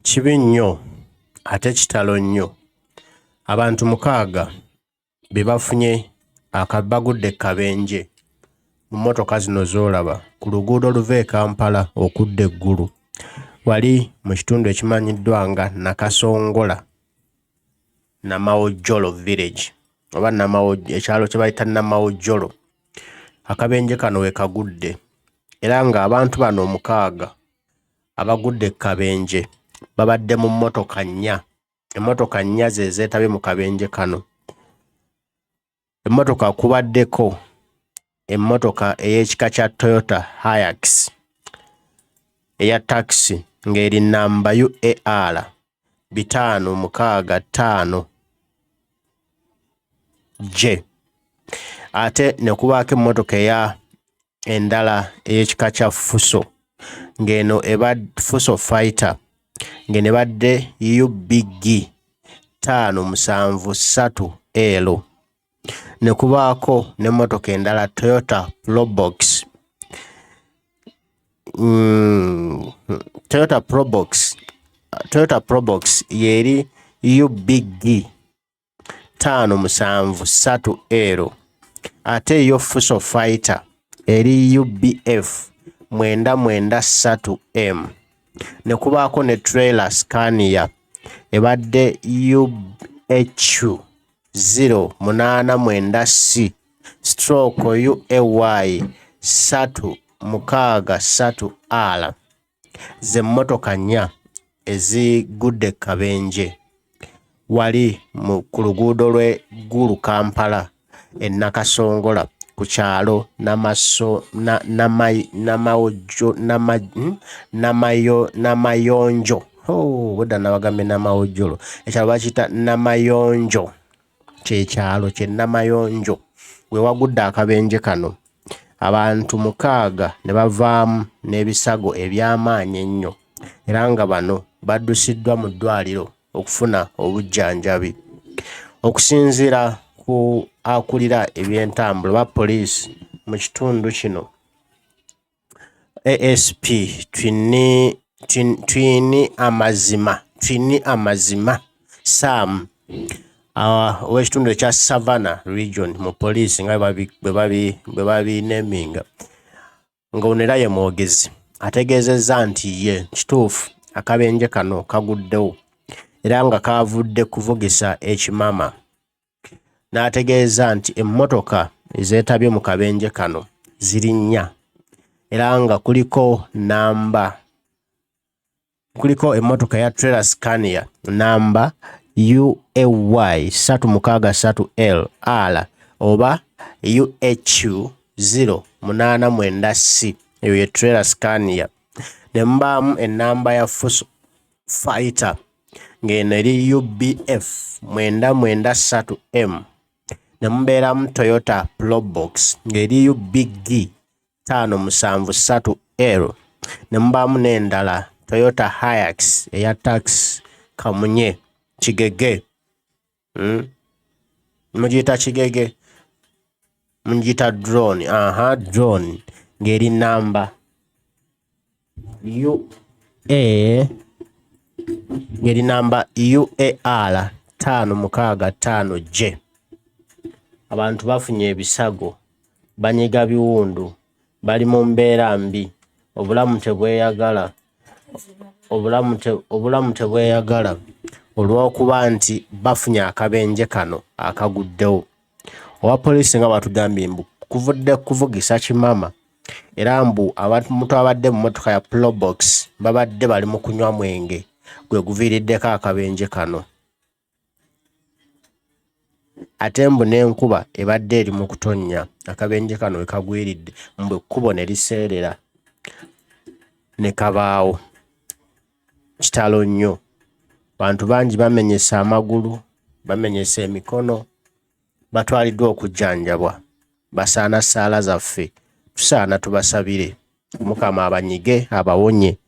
Kibi nnyo ate kitalo nnyo abantu mukaaga be bafunye aka bagudde ku kabenje mu mmotoka zino z'olaba ku luguudo oluva e Kampala okudda e Gulu wali mu kitundu ekimanyiddwa nga Nakasongola Namawojjolo Village oba Namawo ekyalo kye bayita Namawojjolo. Akabenje kano we kagudde era ng'abantu bano omukaaga Abagudde e kabenje babadde mu mmotoka nnya. Emmotoka nnya ze zeetabye mu kabenje kano. Emmotoka kubaddeko emmotoka ey'ekika kya Toyota Hiax eya takisi ng'eri nnamba UAR bitaano mukaaga ttaano J ate ne kubaako emmotoka eya endala ey'ekika kya fuso ng'eno eba fuso fighter ng'eno ebadde ubg ttaano musanvu ssatu elo ne kubaako n'emmotoka endala toyota probox mm, toyota probox toyota probox yeeri ubg taano musanvu satu ero ate yo fuso fighter eri ubf mwenda mwenda satu m ne kubaako ne trailer scania ebadde uhu zero munaana mwenda c stroke uay satu mukaaga satu ala z'emmotoka nnya ezigudde e kabenje wali mu ku luguudo lw'e Gulu Kampala e Nakasongola ku kyalo Namaso na Namai Namawojjo Nama hmm? Namayo Namayonjo oh, budda nabagambye Namawojjolo ekyalo bakiyita Namayonjo kye kyalo kye Namayonjo we wagudde akabenje kano abantu mukaaga ne bavaamu n'ebisago eby'amaanyi ennyo era nga bano baddusiddwa mu ddwaaliro okufuna obujjanjabi okusinziira ku akulira ebyentambula oba poliisi mu kitundu kino asp twine twine amazima twine amazima sam ah, ow'ekitundu ekya savana region mu poliisi nga bwe babineminga nga ono era ye mwogezi ategeezezza nti ye kituufu akabenje kano kaguddewo era nga kaavudde kuvugisa ekimama n'ategeeza nti emmotoka ezeetabye mu kabenje kano ziri nnya era nga kuliko namba kuliko emmotoka ya trailer scania namba uay 363 l oba uhu 089 c eyo ye trailer scania ne mubaamu ennamba ya fuso fighter ng'eno eri UBF mwenda mwenda ssatu M ne mubeeramu Toyota Probox ng'eriyo BG ttaano musanvu ssatu L ne mubaamu n'endala Toyota Hiace eya tax kamunye kigege. Hmm? mugiyita kigege mugiyita drone aha drone ng'eri namba ua ng'eri namba uar taano mukaaga taano j abantu bafunye ebisago banyiga biwundu Bali mu mbeera mbi, obulamu tebweyagala, obulamu te, obulamu tebweyagala olw'okuba nti bafunye akabenje kano akaguddewo. Owa poliisi nga batugambye mbu kuvudde kuvugisa kimama era mbu abantu abadde mu mmotoka ya Probox babadde bali mu kunywa mwenge gwe guviiriddeko akabenje kano. ate mbu n'enkuba ebadde eri mu kutonnya akabenje kano we kagwiridde mbu ekkubo ne liseerera ne kabaawo kitalo nnyo bantu bangi bamenyese amagulu bamenyese emikono batwaliddwa okujjanjabwa basaana ssaala zaffe tusaana tubasabire. Mukama abanyige abawonye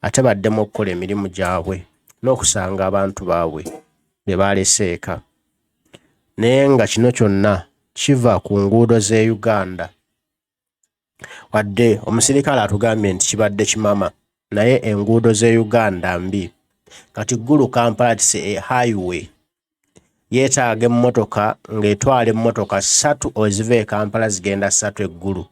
ate baddemu okukola emirimu gyabwe n'okusanga abantu baabwe be baalese eka naye nga kino kyonna kiva ku nguudo z'e Uganda wadde omusirikale atugambye nti kibadde kimama naye enguudo z'e Uganda mbi kati Gulu Kampala tise e highway yeetaaga emmotoka ng'etwala emmotoka ssatu eziva e Kampala zigenda ssatu e Gulu,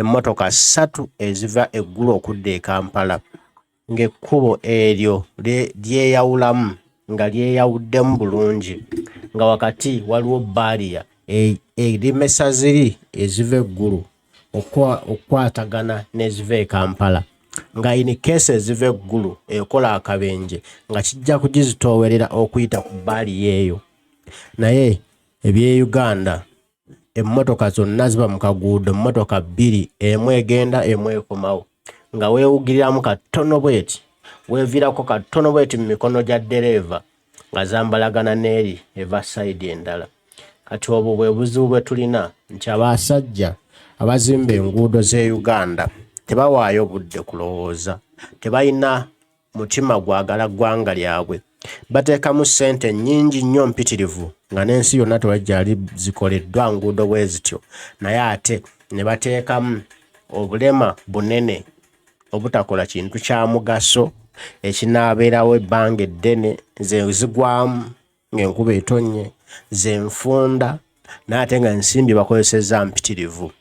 emmotoka ssatu eziva e Gulu okudda e Kampala ng'ekkubo eryo lyeyawulamu nga lyeyawuddemu bulungi nga wakati waliwo bbaaliya eremesa ziri eziva e Gulu. okukwatagana n'eziva e Kampala nga in case eziva e Gulu ekola akabenje nga kijja kugizitoowerera okuyita ku bbaali yeeyo naye eby'e Uganda emmotoka zonna ziba mu kaguudo mmotoka bbiri emu egenda emu ekomawo nga weewugiriramu katono bweti weevirako katono bweti mu mikono gya ddereeva nga zambalagana n'eri eva sayidi endala. Kati obwo bwe buzibu bwe tulina nti abasajja abazimba enguudo z'e Uganda tebawaayo budde kulowooza, tebalina mutima gwagala ggwanga lyabwe, bateekamu ssente nnyingi nnyo mpitirivu nga n'ensi yonna tewajjali zikoleddwa nguudo bwe zityo naye ate ne bateekamu obulema bunene. obutakola kintu kya mugaso ekinaabeerawo ebbanga eddene ze zigwamu ng'enkuba etonnye ze nfunda n'ate nga ensimbi bakozesezza mpitirivu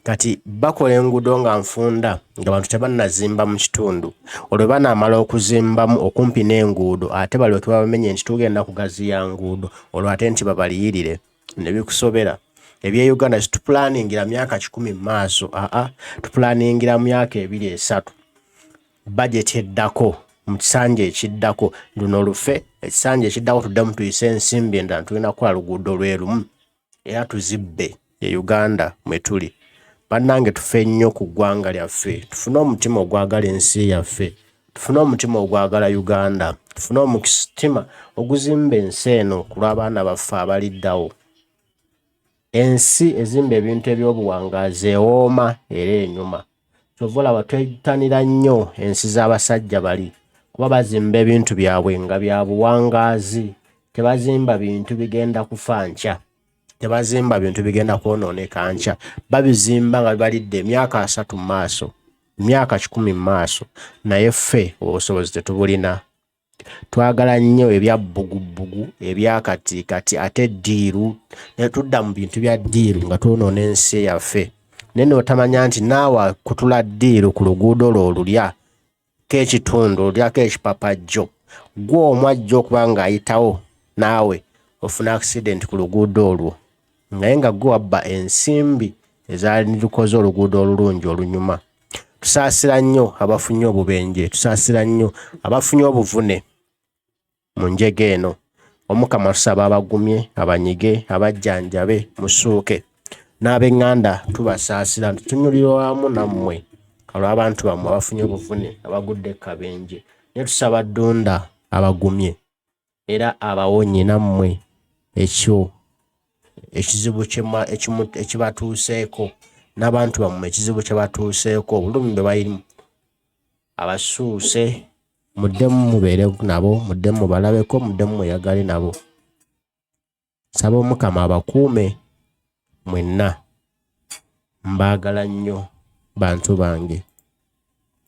kati bakola enguudo nga nfunda nga bantu tebannazimba mu kitundu olwe banaamala okuzimbamu okumpi n'enguudo ate balyoke babamenye nti tugenda kugaziya nguudo olwo ate nti babaliyirire nebikusobera ebya uganda situpulaningira myaka kikumi mu maaso aa tupulaningira myaka ebiri esatu bajeti eddako mu kisanja ekiddako luno lufe ekisanja ekiddako tuddemu tuyise ensimbi endala tulina kukola luguudo lwe lumu era tuzibbe e uganda mwe tuli bannange tufe nnyo ku ggwanga lyaffe tufune omutima ogwagala ensi yaffe tufune omutima ogwagala uganda tufune omutima oguzimba ensi eno ku lw'abaana baffe abaliddawo ensi ezimba ebintu eby'obuwangaazi ewooma era enyuma kyova olaba twetanira nnyo ensi z'abasajja bali kuba bazimba ebintu byabwe nga bya buwangaazi tebazimba bintu bigenda kufa nkya tebazimba bintu bigenda kwonooneka nkya babizimba nga bibalidde emyaka asatu mu maaso emyaka kikumi mu maaso naye ffe obusobozi tetubulina twagala nnyo ebya bbugubugu ebya kati kati ate ddiiru ne tudda mu bintu bya ddiiru nga twonoona ensi yaffe naye notamanya nti naawe kutula ddiiru ku luguudo lwo olulya k'ekitundu olyako ekipapajjo gwe omu ajja okuba ng'ayitawo naawe ofuna accident ku luguudo olwo naye nga gwe wabba ensimbi ezalukoze oluguudo olulungi olunyuma tusaasira nnyo abafunye obubenje tusaasira nnyo abafunye obuvune mu njega eno omukama tusaba abagumye abanyige abajjanjabe musuuke n'ab'eŋŋanda tubasaasira tutunyulira wamu nammwe olw'abantu bammwe abafunye obuvune abagudde kabenje ne tusaba ddunda abagumye era abawonye nammwe ekyo ekizibu ekibatuuseeko n'abantu bammwe ekizibu kyebatuuseeko obulumi bwe balimu abasuuse muddemu mubeere nabo muddemu mubalabeko muddemu mweyagale nabo nsaba omukama abakuume mwenna mbaagala nnyo bantu bange